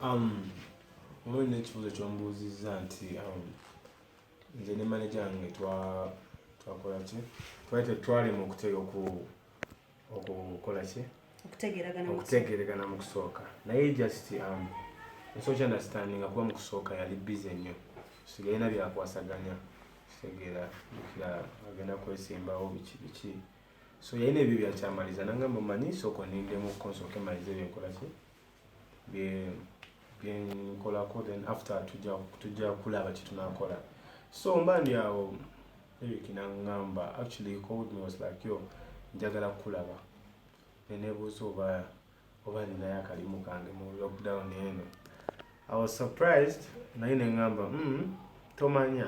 Um, mulimu n'ekibuuzo kyombuuzizza nti um, nze ne maneja wange twakola ki twali tetwalema okutega okukola ki okutegeregana mu kusooka naye just um, nsooki understandinga kuba mu kusooka yali bize nnyo sigalina byakwasaganya kitegeera kira agenda kwesimbawo biki biki so yalina ebyo byakyamaliza nangamba manyi sooka onindemu konsooka emaliza ebyenkola ki byenkolako then after tujja kulaba kyetunakola so mba ndi awo eric nangamba actually he called me was like yo njagala kukulaba nenebuuza oba oba ninayo akalimu kange mu lockdown eno i was surprised naye nengamba mm, tomanya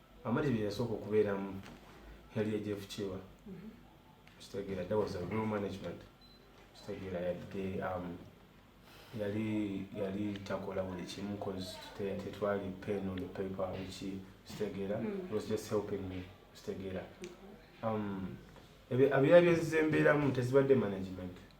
Amadi bye yasooka okubeeramu yali ejefu kiwa mhm. kitegeera that was a real management kitegeera yadde um, yali yali takola buli kimu cause tetwali pen on the paper wiki kitegeera mm. was just helping me kitegeera mhm. um, abyali byezizembeeramu tezibadde management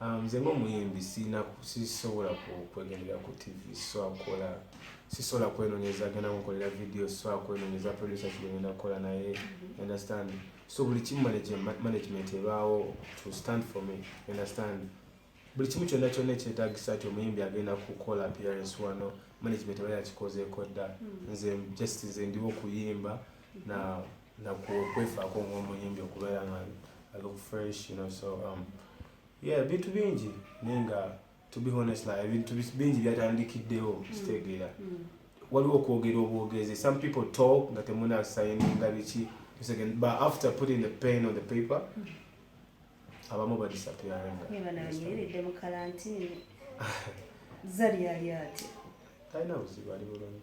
Um, nze ngaomuyimbi sirina sisobola kwegendera ku tv swakola sisobola kwenonyeza genda mukolera video swakola kwenonyeza producer kigenda kukola naye mhm. understand so buli kimu management ebaawo to stand for me understand buli kimu kyonna kyonna ekyetagisa ti omuyimbi agenda kukola appearance wano management aba yakikozeeko dda mhm. nze just nze ndiwo okuyimba na nakwefaako ng'omuyimbi okubeera nga look fresh you know so um, yeah ebintu bingi naye nga to be honest like ebintu bingi byatandikiddewo mm. kitegeera mm. waliwo okwogera obwogezi some people talk nga temunasayininga biki but after putting the pain on the paper mm. abamu badisappearangayeredde mu kalantini zali yali ati talina buzibu ali bulungi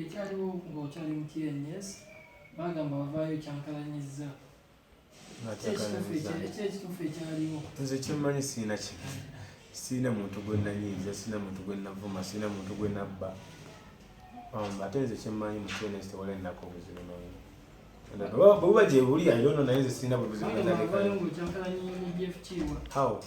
ekyaliwo ngaokyali mu tns bagamba wavaayo kyankalanyizza ekyekituufu ekyaliwo nze kyemmanyi siina kino siina muntu gwe nanyiiza siina muntu gwe navuma siina muntu gwe nabba um, ate nze kyemmanyi mu tns tewala ennaku obuzibu noyina bwebuba gyebuli ayono naye nze siina bubuzibu how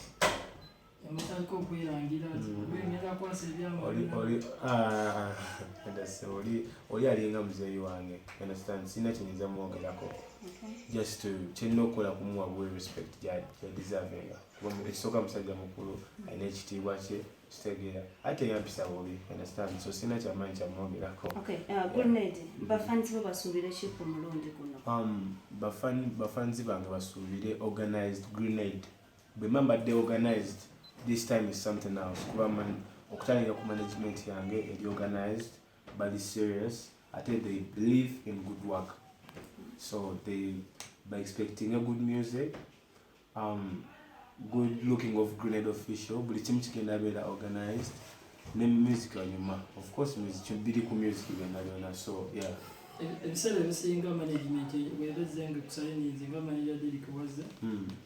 oli alinga muzeeyi wange understand sirina kyenyinza mwogerako just kyerina okukola kumuwa bwe respect gyadeservinga kuba ekisooka musajja mukulu alina ekitiibwa kye kitegeera ate yampisa bubi understand so sirina kyamaanyi kyamwogerako bafanzi bange basuubire organized grenade bwemba mbadde organized this time is something else kuba man okutandika ku management yange eri organized bali serious ate they believe in good work so they by expecting a good music um, good looking of grenade official buli kimu kigenda beera organized ne music wanyuma of course music biri ku music byonna byonna so yeah ebiseera ebisinga management webezenga kusayininze nga manager derik waze hmm.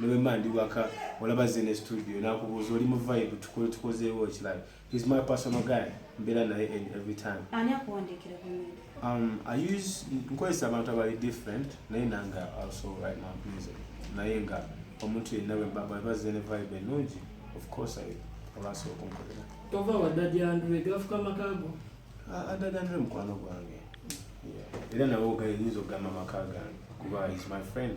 newemba ndi waka olaba ze ne studio nakubuuza oli mu vibe tukole tukozeewo ekirala he's my personal guy mbeera naye in every time ani akuwandiikira um, i use nkozesa abantu abali different naye nanga also right now music naye nga omuntu yenna bwebaba ze ne vibe ennungi of course i olaasa okunkolera tova wadadyanduwe gafuka makago adadyanduwe ah, mukwano gwange era nawe ogayinza okugamba amaka gange kuba is my friend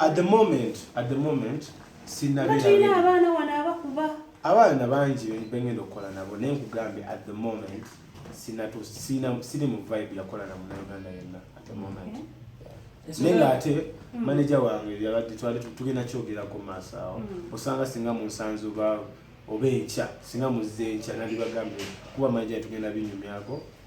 at the moment at the moment sinabirina abaana wano abakuba abaana bangi bengenda okukola nabo naye nkugambye at the moment siri mu vibe yakola na munauganda yenna at the moment okay. naye nga ate hmm. maneja wange yabadde twali tugenda kyogerako maaso awo hmm. osanga singa munsanze oba oba enkya singa muzze enkya nandibagambye kuba maneja tugenda binyumyako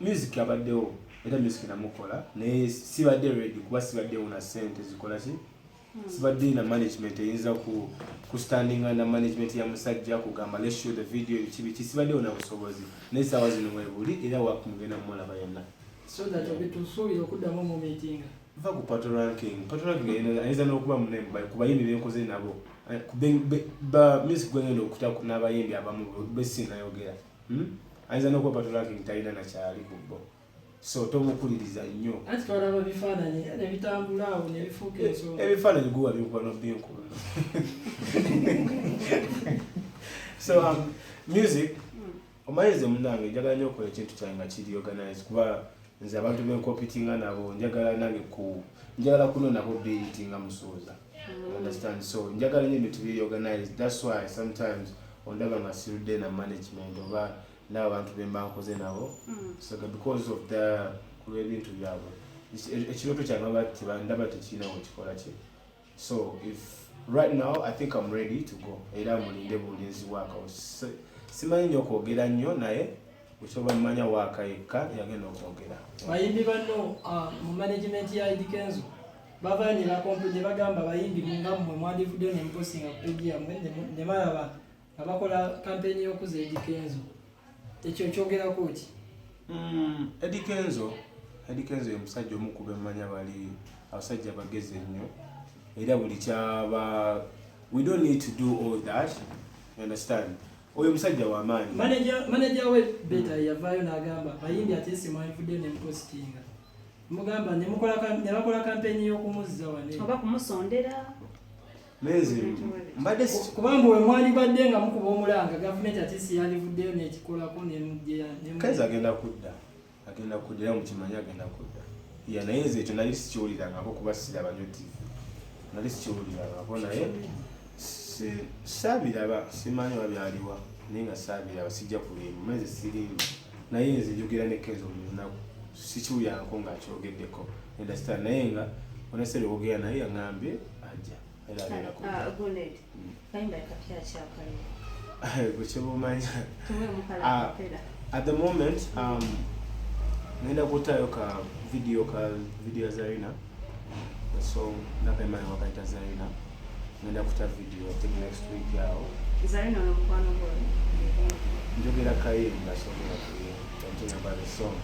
music abaddewo era music namukola naye sibadde ready kuba sibaddewo na sente zikola ki hmm. sibadde na management eyinza ku kustandinga na management ya musajja kugamba let's show the video biki biki sibaddewo na busobozi naye saawa zino webuli era wakumugenda mumulaba yenna so that obitusuubira okuddamu mu meetinga va ku pato ranking pato ranking ayinza n'okuba munene ku bayimbi benkoze nabo eh, ba music gwengenda okutako n'abayimbi abamu besinayogera Hmm? Ayinza n'okwepatula nti talina na kyali ku bo. So tomukuliriza nnyo. Anti twalaba bifaananyi eh, ne bitambula awo ne bifuuka eh, ensonga. Ebifaananyi guwa binkuba n'obbinkulu. So um, music hmm. omanyize munange njagala nyo okola ekintu kyange nga kiri organize kuba nze abantu benkopitinga nabo njagala nange ku njagala kunonako biritinga musuuza mm. understand so njagala nyo ebintu biri organized that's why sometimes ondaba nga sirudde na management oba n'abantu be mba nkoze nabo mm. so because of the kulw'ebintu byabwe ekirooto kyange baba tebandaba tekirina wekikola kye so if right now i think am ready to go era mulinde bulinzi wakawo simanyi nyo okwogera nnyo naye osobola mumanya waaka yekka yagenda okwogera bayimbi banno ah, mu management ya idikenzo bavayo ne bakompe ne bagamba bayimbi nga mmwe mwandivudde ne muposinga ku peji yammwe ne balaba nga bakola kampeyini y'okuza edi kenzo ekyo kyogerako ki mm, edi kenzo edi kenzo ye musajja omu kuba emmanya bali abasajja bagezi ennyo era buli kyaba we don't need to do all that you understand oyo musajja wamaanyi maneja we beta yavaayo n'agamba bayimbi ate simwandivudde ne mupositinga mugamba ne mukola ne bakola kampeni y'okumuzza wane oba kumusondera mezi mbadde kubanga we mwali badde nga mukuba omulanga gavumenti ati si yalivuddeyo n'ekikolako nemugyeya kazi agenda kudda agenda kudda era mukimanyi agenda kudda ya naye nze ekyo nali sikiwulirangako kuba siraba nyo tv nali sikiwulirangako naye saabiraba simanyi oba byaliwa naye nga saabiraba sijja kulimba mezi sirimba naye nze njogera ne kenzo buli lunaku sikiwulyanko nga akyogeddeko understand naye nga onesere wogera naye aŋambye ajja era abeera ku ah, bwekyebumanya mm. ah, at the moment um, nenda kutayo ka video ka video zarina so ndaba emayi wakayita zaina ngenda kuta video think next week yawo zaina nomukwano gwo njogera kaye ngasobola kuye something about the song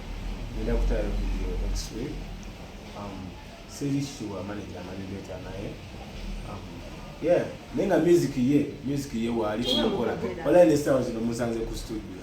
ngenda kutayo video next week um, siri sure manager amanyi leta naye um, yeah naye nga music ye music ye waali tumukola walayi nesawa zino musanze ku studio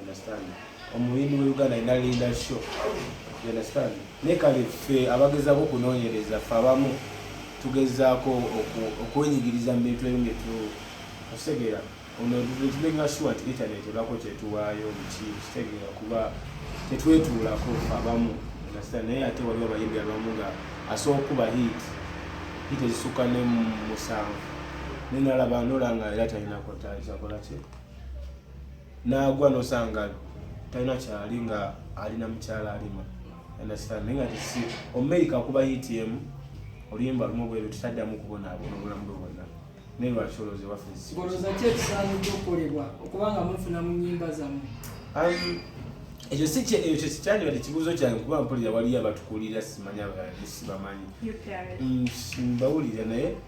understand omuyimbi wa uganda alina linda show you understand naye kale ffe abagezaako okunoonyereza ffe abamu tugezaako okwenyigiriza mu bintu ebimu byetu okitegera ono tumenga sure nti internet ebako kyetuwaayo biki kitegera kuba tetwetuulako ffe abamu understand naye ate waliwo abayimbi abamu nga asooka okuba hit hit ezisukka ne musanvu nenalaba nolanga era talinako tazakolaki n'agwa n'osanga talina kyali nga alina mukyala alima understand naye nga tisi omumerika kuba utm oluyimba lumu bweru tutaddamu kubonaabona obulamu bwe bwonna naye lwaki olowooza ewaffe olowooza ki ekisaanidde okukolebwa okuba nga mufuna mu nyimba zammwe um, ekyo si ekyo kikyandiba tekibuuzo kyange kuba mpulira waliyo abatukulira simanya balala sibamanyi mm, mbawulira naye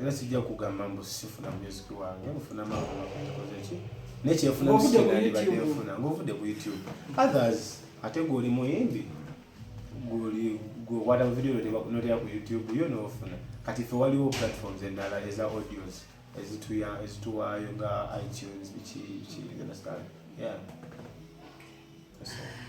era sijja kugamba mbu sifuna music wange nfuna mawanga kukoze ki naye kyefuna musikanandibadde nfuna ngaovudde ku youtube others ate gweoli muyimbi gweoli gwekwata mu video notera ku youtube yo nofuna kati fe waliwo platforms endala eza audios ezituwaayo nga itunes biki biki understand yeah That's all.